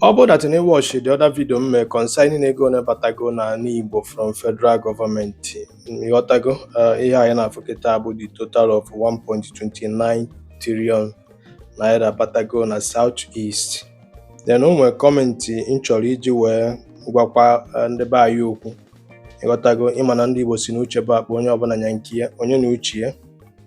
Ọ bụrụ that na ị watchị the other video m mee concerning ego one batago n'ala Igbo from federal government ị ghọtago uh, ihe anyị na-afụ kịta bụ the total of 1.29 trillion naira batago na South East then o nwere comment m chọrọ iji wee gwakwa uh, ndị be anyị okwu ị ghọtago ị ma na ndị Igbo sị na uche bụ akpa onye ọbụla nya nke ya onye na uche ya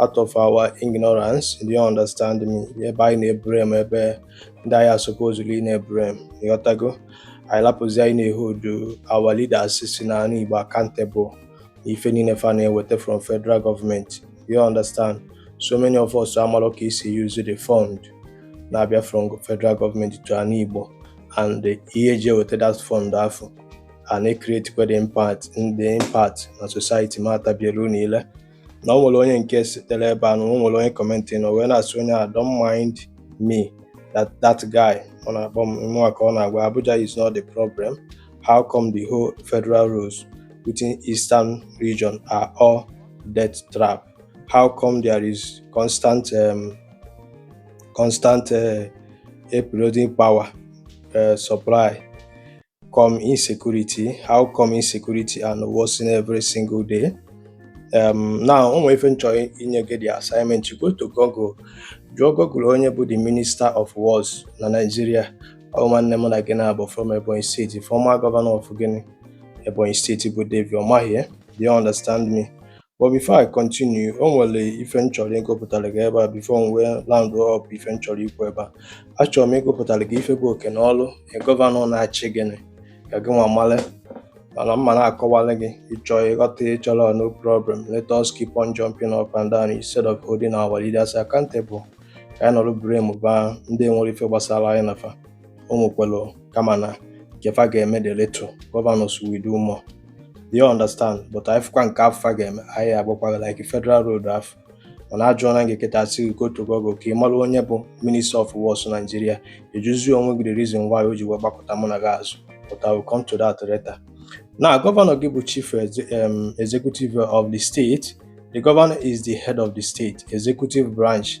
out of our ignorance do you understand me ebe anyị na-eblame ebe ndị anyị supposedly na-eblame ị ghọtago anyị lapụzi ịna-eholdu our leaders si na ana Igbo accountable ife niile fa na-eweta from federal government you understand so many of us amarọ ka e si use the fund na-abịa from federal government to ana Igbo and ihe e ji eweta that fund afụ a na-ecreatekwa the impact the impact na society ma atabielu niile na o nwere onye nke sitere ebe a na o nwere onye commentị na o wee na-asị onye a don't mind me that that guy ọ na-akpọ m mụnwa ka ọ na-agwa Abuja is not the problem how come the whole federal roads within eastern region are all death trap how come there is constant um, constant uh, eroding power uh, supply come insecurity how come insecurity and worsen every single day um, now o nwere ife m chọ inye gị the assignment you go to Google jụọ Google onye bụ the minister of works na Nigeria ọ nwanne m na gị nwa bụ from Ebonyi State former governor of gịnị Ebonyi State bụ David Umahi do you understand me but before I continue o nwere ife m chọrọ ịgụpụtara gị ebe a before m wee round up ife m chọrọ ikwu ebe a achọrọ m ịgụpụtara gị ife bụ oke na ọrụ governor na-achị gị ka gị nwa male mana m ma na-akọwara gị ị chọọ ị ghọta ị chọrọ no problem let us keep on jumping up and down instead of holding our leaders accountable ka anyị nọrọ blamuba ndị nwerọ ife gbasara anyị na fa o nwekwara kama na nke fa ga-eme dị little governors will do more do you understand but anyị fụkwa nke fa ga-eme anyị agwakwa fa like federal road afụ mana a jụọna gị kịta a sị gị go to Google ka ị mara onye bụ Minister of Works Nigeria ị jụzi onwe gị the reason why o ji wee gbakọta mụ na gị azụ but I will come to that later. Now, Governor gị bụ Chief um, Executive of the state, the governor is the head of the state executive branch.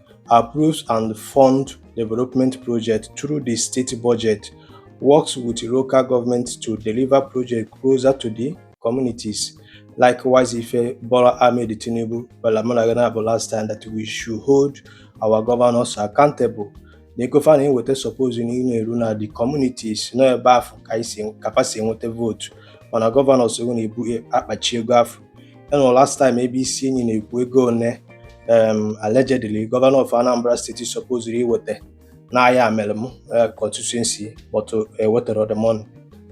approves and fund development projects through the state budget, works with local governments to deliver projects closer to the communities. Likewise, ife Bola Ahmed Tinubu gbala mbọ na-agwa anyị last time that we should hold our governors accountable. na ego fa na-enweta suppose ịna-eru na the communities na ọ ebe afụ ka fa si enweta vote mana governor soro na-ebu akpachi ego afụ enwere last time ebe isi enyi na-ekwu ego one um, allegedly governor of Anambra State supposed iweta n'Ayamelum uh, constituency but uh, ewetara the money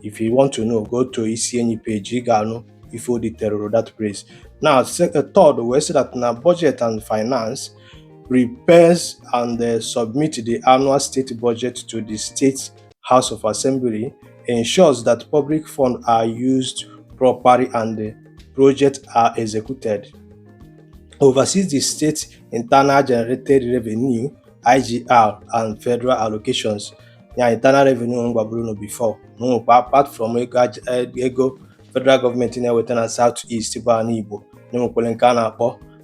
if you want to know go to isi enyi page ị ga-anụ ife o detailụrụ that place now uh, third wee sị that na budget and finance prepares and uh, submit the annual state budget to the state House of Assembly ensures that public funds are used properly and the projects are executed. Oversees the state internal generated revenue IGR and federal allocations. Yeah, internal revenue m gwaburu unu before na apart from ego eh, federal government na-eweta na South East bụ ana Igbo na enwekwere nke a na-akpọ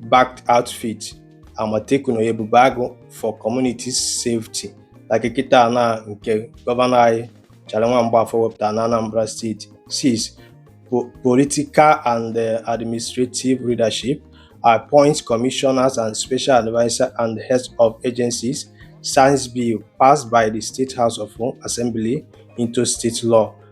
backed outfit Amotekun or Ebubeagu for Community Safety like kịta na nke gọvanọ anyị Charlie nwa Mgbafọ wepụtara na Anambra State six political and eh, administrative leadership appoints commissioners and special advisor and heads of agencies signs bill passed by the state house of assembly into state law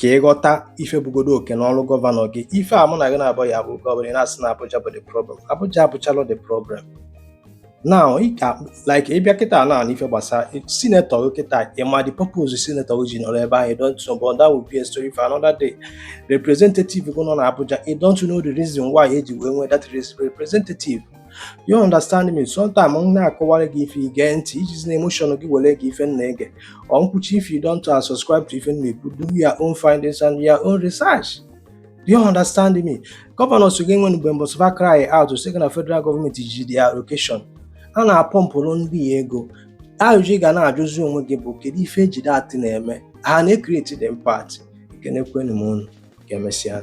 ka ị ghọta ife bụgodu oke na ọrụ gọvanọ gị ife a mụ na gị na-abụ ya bụ gọvanọ ị na-asị na Abuja bụ the problem Abuja abụcharọ the problem now like ị bịa kịta na ife gbasara sinetọ gị kịta ị ma the purpose sinetọ gị ji nọrọ ebe ahụ don't know but that will be a story for another day representative gị nọ na Abuja you don't know the reason why eji wee nwee that representative you understand me sometimes m na-akọwara gị ife ị gee ntị ejizina emotion gị were ge ife ị na-ege or m kwuchaa if you don't uh, subscribe to ife m na-ekwu do your own findings and your own research do you understand me governors gị nwe mgbe mbọsị fa cry out sị gị na federal government ji their allocation a na-apọmpụrụ ndị a ego ajụjụ ị ga na-ajụzi onwe gị bụ kedu ife eji that thing na-eme ha na-ekreti the impact ekenekwenụ m unu ka emesịa